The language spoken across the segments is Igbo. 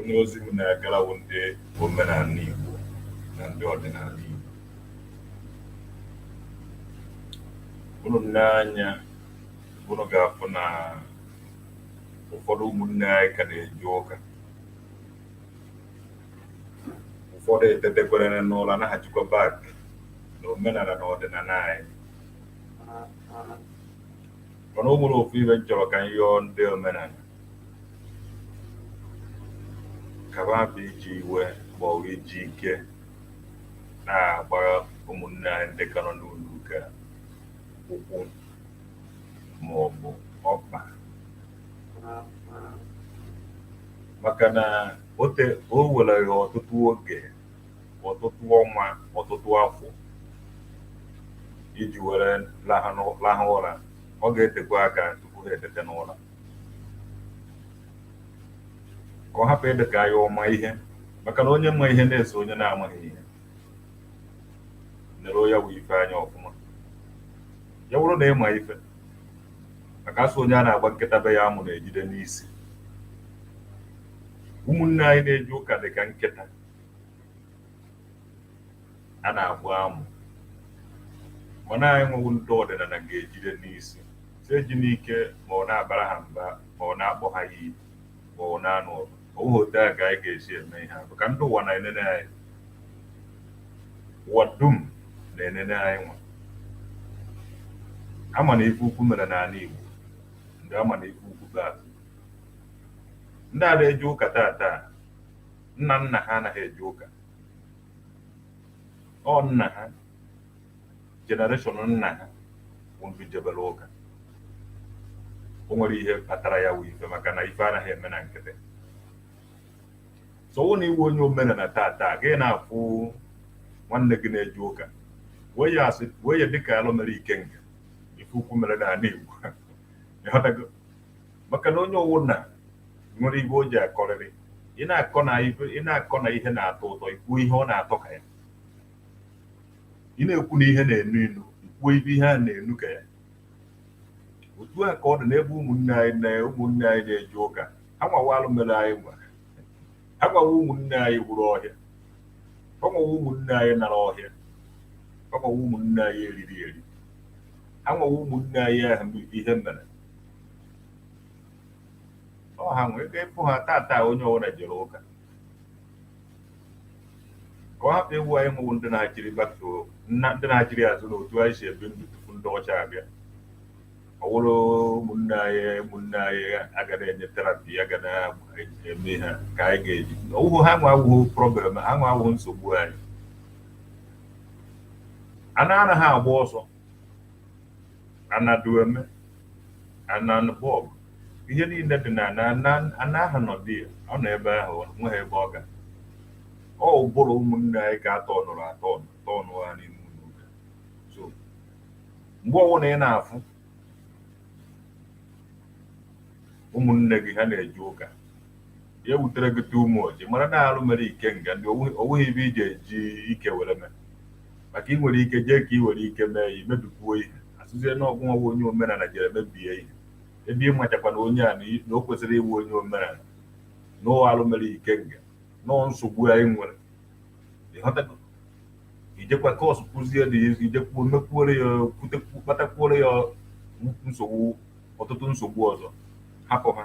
Onye ozi m na-agara wụ ndị omenala Igbo na ndị ọdịnala Igbo. Unu nee anya, unu ga-afụ na ụfọdụ ụmụnne anyị ka na-eje ụka. Ụfọdụ etetekwere n'ụra naghachikwa back na omenala na ọdịnala anyị. Mana o nwere ofu ibe m chọrọ ka m yọọ ndị omenala. Ka ha hapụ iji iwe ma ọ bụ iji ike na-agba ụmụnne anyị ndị ka nọ n'ụlọ ụka ụkwụ ma ọ bụ ọkpa maka na o te o were ha ọtụtụ oge ọtụtụ ọnwa ọtụtụ afọ iji were lahụ n'ụ- lahụ ụra ọ ga-etekwa aka tupu ha etete n'ụra ka ọ hapụ ịdị ka ya ọma ihe maka na onye ma ihe na-eso onye na-amaghị ihe nere ya wụ ife anya ọfụma ya wụrụ na ị ma ife maka a sị onye a na-agba nkịta be ya amụ na-ejide n'isi ụmụnne anyị na-eje ụka dị ka nkịta a na-agba amụ mana anyị nwa wụ ndị ọdịnala ga-ejide n'isi si eji n'ike ma ọ wụ na-abara ha mba ma ọ wụ na-akpọ ha iyi ma ọ na-anụ ọgụ ọ wụghị otu a ka anyị ga-esi eme ihe a maka ndị ụwa na-enene anyị ụwa dum na-enene anyị nwa a ma na ife ukwu mere n'ala Igbo ndị a ma na ife ukwu bụ atụ ndị a na-eje ụka tata nna nna ha anaghị eje ụka ọ nna ha generation nna ha wụ ndị jebere ụka o nwere ihe kpatara ya wụ ife maka na ife anaghị eme na nkịtị so ọ wụ na ị wụ onye omenala tata gị na-afụ nwanne gị na-eje ụka wee ya asị wee ya dịka alụ mere ikenga ife ukwu mere n'ala Igbo ị ghọtago maka na onye ọwụna nwere ibe o ji akọrịrị ị na-akọ na ibe ị na-akọ na ihe na-atọ ụtọ i kwuo ihe ọ na-atọ ka ya ị na-ekwu na ihe na-enu inu i kwuo ibe ihe a na-enu ka ya otu a ka ọ dị n'ebe ụmụnne anyị na ụmụnne anyị na-eje ụka ha nwa wụ alụ mere anyị nwa ha nwa wụ ụmụnne anyị wuru ọhịa ha nwa wụ ụmụnne anyị nara ọhịa ha nwa wụ ụmụnne anyị e riri eri ha nwa wụ ụmụnne anyị ahụ ihe mere ọ ha nwee ike ịfụ ha tata onye ọbụla jere ụka ka ọ hapụ ịwụ anyị nwa wụ ndị na-achịrị back to ndị na-achịrị azụ na otu anyị si ebi ndụ tupu ndị ọcha abịa ọ wụrụ ụmụnne anyị ụmụnne anyị a ga na-enye therapy ya ga na-eme ha ka anyị ga-eji ọwụhụ ha nwa awụhụ problem ha nwa awụhụ nsogbu anyị ana anaghị agba ọsọ Anadueme, Ananbọgụ, ihe niile dị na ana ana ana ahụ nọ there ọ nọ ebe ahụ o nweghị ebe ọ ga ọ ụbụrụ ụmụnne anyị ka a tọnụrụ atọ atọnụ ha n'ime ụlọ ụka so mgbe ọbụla ị na-afụ ụmụnne gị ha na-eje ụka ya wutere gị too much mara na arụ mere ikenga ndị o nweghị ebe ị ga-eji ike were mee maka ị nwere ike jee ka ị were ike mee ya i mebikwuo ihe a sịzie na ọ gịnwa wụ onye omenala jere mebie ihe ebe ị machakwa na onye a na o kwesịrị ịbụ onye omenala na arụ mere ikenga na nsogbu anyị nwere ịghọtago i jekwa cause kwuzie dị i jekwuo mekwuore ya kpatakwuore ya nsogbu ọtụtụ nsogbu ọzọ hapụ ha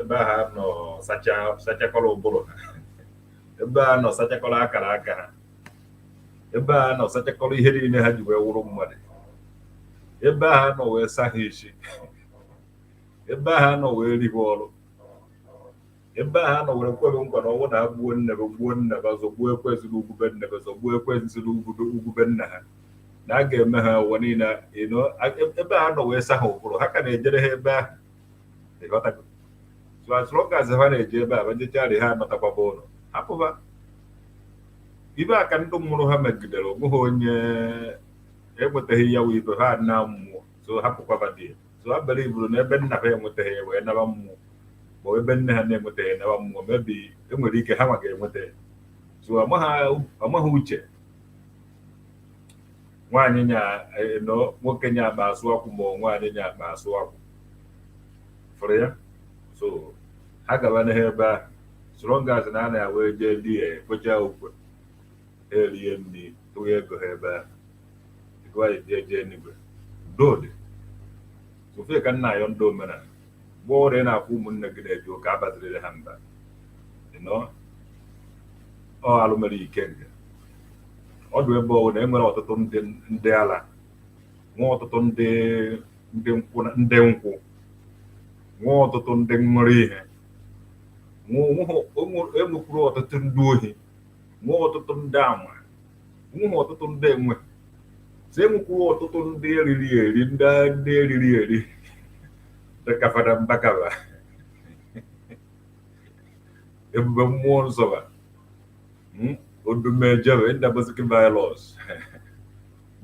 ebe a ha nọ sacha sachakọrọ ụbụrụ ha ebe a nọ sachakọrọ akara aka ha ebe a nọ sachakọrọ ihe niile ha ji wee wụrụ mmadụ ebe a ha nọ wee sa ha isi ebe a ha nọ wee riwe ọrụ ebe a ha nọ were kwere nkwa na ọnwụ na ha gbuo nne gị gbuo nna gị ọ zọgbuo ekwezi na ugwube nne gị ọ zọgbuo ekwezi si na ugwube ugwube nna ha na a ga-eme ha ụwa niile ị nọ- ebe a ha nọ wee sa ha ụbụrụ ha ka na-ejere ha ebe ahụ ịghọtago so as long as ha na-eje ebe a ha jecharị ha anatakwaba ụlọ hapụba ebe aka ndị mụrụ ha megidere o nweghị onye enwetaghị ya wụ ibe ha na mmụọ so hapụkwaba there so abara iburu na ebe nna ha enwetaghị ya wee naba mmụọ ma ebe nne ha na-enwetaghị naba mmụọ maybe e nwere ike ha nwa ga-enweta ya so amaghị uche nwaanyị nya nọ nwoke nya akpa asụ akwụ ma ọ nwaanyị nya akpa asụ akwụ fụrụ ya so ha gaba n'ihu ebe ahụ as long as na a na-awa jee there akachaa ụka ha erie nri tụnye ego ha ebe ahụ ego anyị jee jee n'igwe dode sọ ife ka m na-ayọ ndị omenala mgbe ọbụla ị na-afụ ụmụnne gị na-eje ụka abazirịrị ha mba na ọ alụ mere ikenga ọdụ ebe ọwụna e nwere ọtụtụ ndị ndị ala nwee ọtụtụ ndị ndị nkwụ na- ndị nkwụ nwee ọtụtụ ndị ṅụrụ ihe nwee onwe- onwe- enwekwuru ọtụtụ ndị ohi nwee ọtụtụ ndị ama nwee ọtụtụ ndị enwe si enwekwuru ọtụtụ ndị eriri eri ndị ndị eriri eri dịka fada mbaka ba ebube mmụọ nsọ ba Hmm? odumeje be ndaboski virus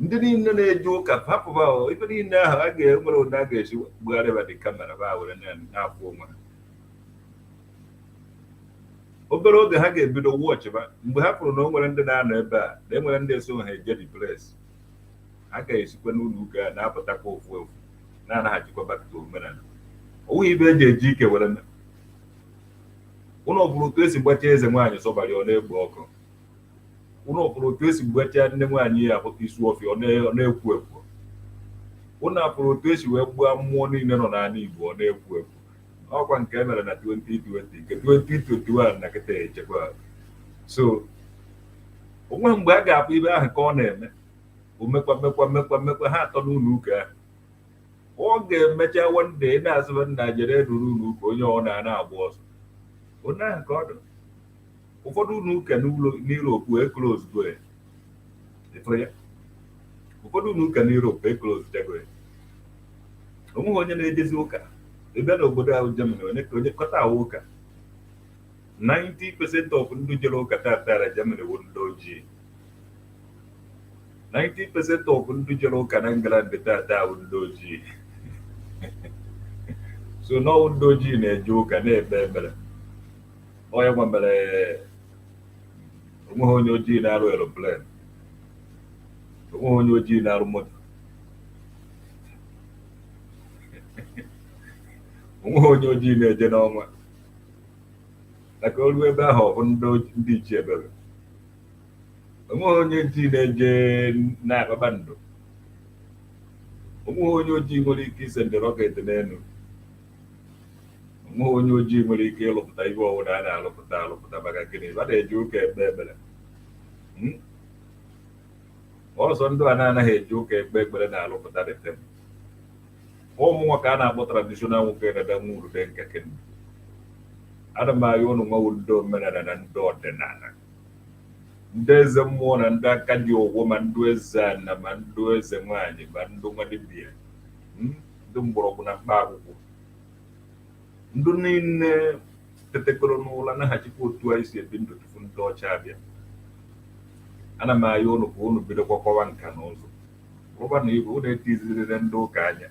ndị niile na-eje ụka hapụba ife niile ahụ a ga-enwere ụdị a ga-esi bugharịba the camera ba were na-afụ onwe ha obere oge ha ga-ebido wọchịba mgbe ha pụrụ na o nwere ndị na-anọ ebe a na enwere ndị eso ha eje the place ha ga-esikwa n'ụlọ ụka a na-apụtakwa ofu ofu na-anaghachikwa back to omenala ọ wụghị ibe eji eji ike were ụnụ ọfụrụ otu esi gbachaa eze nwaanyị sọbari ọ na-egbu ọkụ ụnụ ọfụrụ otu esi gbachaa nne nwaanyị ya afụta isuọfịa ọ na-ekwu ekwu ụnụ afụrụ otu esi wee gbuo mmụọ niile nọ n'ala Igbo ọ na-ekwu ekwu ọkwa nke e mere na 2020 nke 2021 na kịta echekwa so onweghị mgbe a ga-afụ ibe ahụ ka ọ na-eme omekwa mekwa mekwa mekwa ha atọ n'ụlọ ụka ahụ ọ ga-emecha one day na-asịba nna jere ruru ụlọ ụka onye ọ na-ana agba ọsọ onye ahụ ka ọ dị ụfọdụ ụlọ ụka n'Europe e close go ya ịfụrụ ya ụfọdụ ụlọ ụka n'Europe e close chago ya onweghị onye na-ejezi ụka ebe n'obodo ahụ Germany onye ka onye kọta ahụ ụka 90% of ndị jere ụka tata na Germany bụ ndị ojii 90% of ndị jere ụka na England tata bụ ndị ojii so n'ọwụ ndị ojii na-eje ụka na-ekpe ekpere ọ ya nwa mere onweghị onye ojii na-arụ aeroplane onweghị onye ojii na-arụ moto onweghị onye ojii na-eje n'ọnwa maka o lue ebe ahụ ọ fụ ndị ichie ebere onweghị onye ojii na-eje na kpakpando onweghị onye ojii nwere ike isend rocket n'elu onweghị onye ojii nwere ike ịlụpụta ihe ọwụna a na-alụpụta alụpụta maka gịnị a na-eje ụka ekpe ekpere hmm? ọ sọ ndị a na-anaghị eje ụka ekpe ekpere na-alụpụta dị tebụl ụmụ nwoke a na-akpọ traditional nwoke dada nwa urude nke kendo ana m ahịa ụnụ nwawo ndị omenala na ndị ọdịnala ndị eze mmụọ na ndị aka ji ọfọ ma ndị eze ana ma ndị eze nwaanyị ma ndị nwa dibịa hmm, ndị mgbọrọgwụ na mkpa akwụkwọ ndị niile tetekọrọ n'ụla naghachikwa otu anyị si ebi ndụ tupu ndị ọcha abịa ana m ayọ ụnụ ka ụnụ bidokwa kwawa nka na ụzụ rụba na ibe ụnụ etizirire ndị ụka anya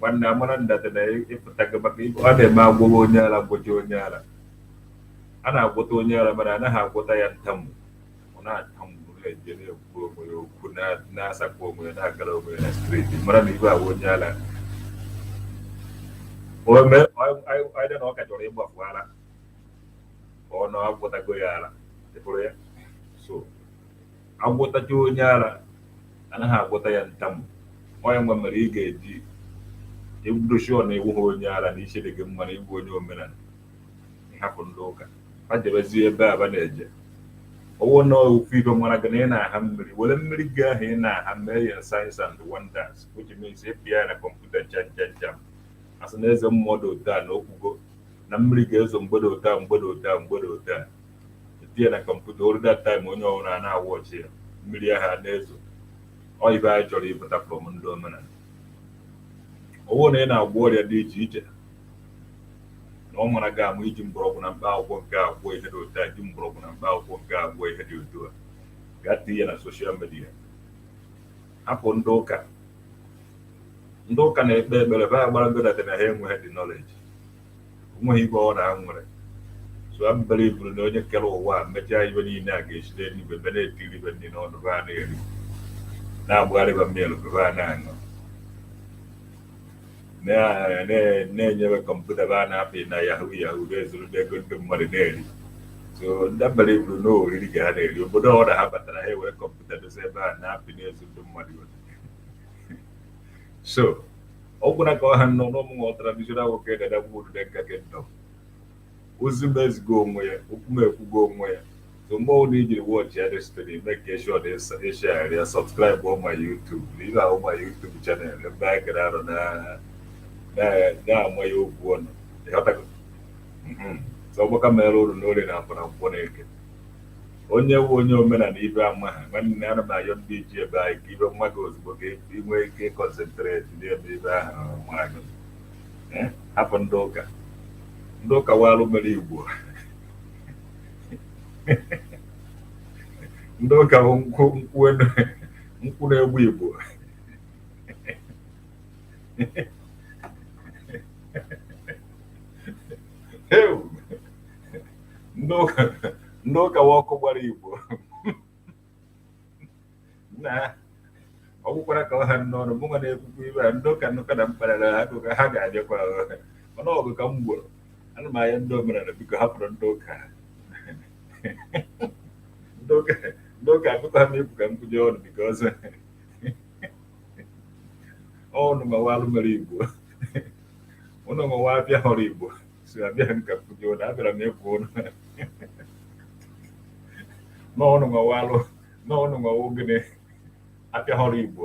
nwanne amara that na ịpụtago maka ibe ọ na-eme agwọwa onye ara gwọcha onye ara a na-agwọta onye ara mana a naghị agwọta ya ntamu ọ na-atamụ na-eje na-ekwu onwe ya okwu na- na-asakwa onwe ya na-agara onwe ya na street mara na ibe agwọ onye ara ome ọdị na ọ ka chọrọ ịgbafu ara ka ọ na agwọtago ya ara ị hụrụ ya so Agwọtacha onye ara, a naghị agwọta ya ntamu. Ọ ya nwa mere ị ga-eji ebido show na ị wụghị onye ara na isi dị gị mma na ịbụ onye omenala, ị hapụ ndị ụka, ha jebezie ebe a ba na-eje. Ọ bụrụ na ofu ife mara gị na ị na-aha mmiri, were mmiri gị ahụ ị na-aha mee ya signs and wonders, which means ị pịa ya na kọmputa jam jam jam. A sị na eze mmụọ dị otu a na okwugo na mmiri ga-ezo mgbede otu a mgbede otu a mgbede otu a. etinye na kọmputa oru that time onye ọbụla a na-awatch ya mmiri ahụ a na-ezo ọ ibe anyị chọrọ ịpụta from ndị omenala ọwụ na ị na-agwọ ọrịa dị iche iche na ọ mara gị ama iji mgbọrọgwụ na mkpa akwụkwọ nke agwọ ihe dị otu a ji mgbọrọgwụ na mkpa akwụkwọ nke agwọ ihe dị otu a gaa tinye na social media hapụ ndị ụka ndị ụka na-ekpe ekpere ba amarago that na ha enweghị the knowledge onweghị ibe ọ na ha nwere so ha believuru na onye kere ụwa emechaa ibe niile a ga-esi n'eluigwe be na-etiri be nri n'ọnụ be a na-eri na-agbara ba mmiri be a na-aṅụ na-enye be kọmputa be a na-apị na yahoo yahoo na-ezuru ego ndị mmadụ na-eri so ndị believuru na oriri ka ha na-eri obodo ọ na ha batara ha ewere kọmputa dosa ebe a na-apị na-ezu ndị mmadụ so ọ gwụna ka ọ ha n'ọnụ ọ mụnwa traditional nwoke dadagbu odide nka kingdom ozi m ezigo onwe ya okwu m ekwugo onwe ya so mgbe ọbụla i jiri watch ya this thing make sure na ịshare ya subscribe ma YouTube na ihe ahụ ma YouTube channel ebe a gara arụ na-ama ya okwu ọnụ ịghọtago so ọgbaka mere ụnụ n'orie na afọ na nkwọ na eke onye wụ onye omenala ibe ama ha nwanne ana m ayọ ndị ji ebe anyị ka ibe ma gị ozugbo ka ị nwee ike ịconcentrate n'ebe ibe ahụ mara gị Eh, hapụ ndị ụka ndị ụka wụ alụ mere Igbo ndị ụka bụ nkwụ nkwụ enu nkwụ na-egbu Igbo Ew! ndị ụka ndị ụka wụ ọkụ gbara igbo na ọ gwụkwara ka ọ ha n'ọnụ mụ nwa na-ekwukwa ihe a ndị ụka ndị ụka na m kparara ha akụkọ ha ga-abịakwa mana ọgụ ka m gboro ana m anya ndị omenala biko hapụrụ ndị ụka ndị ụka ndị ụka akụkọ ha na-ekwu ka m kwujọ ụnụ because ọ ụnụ nwa wụ alụ mere igbo ụnụ nwa wụ abịa họrọ igbo si abịaghị m ka m kwujọ ụnụ abịara m ịgwa ụnụ na ụnụ nwa wụ alụ na ụnụ nwa wụ ogene apịa họrọ igbo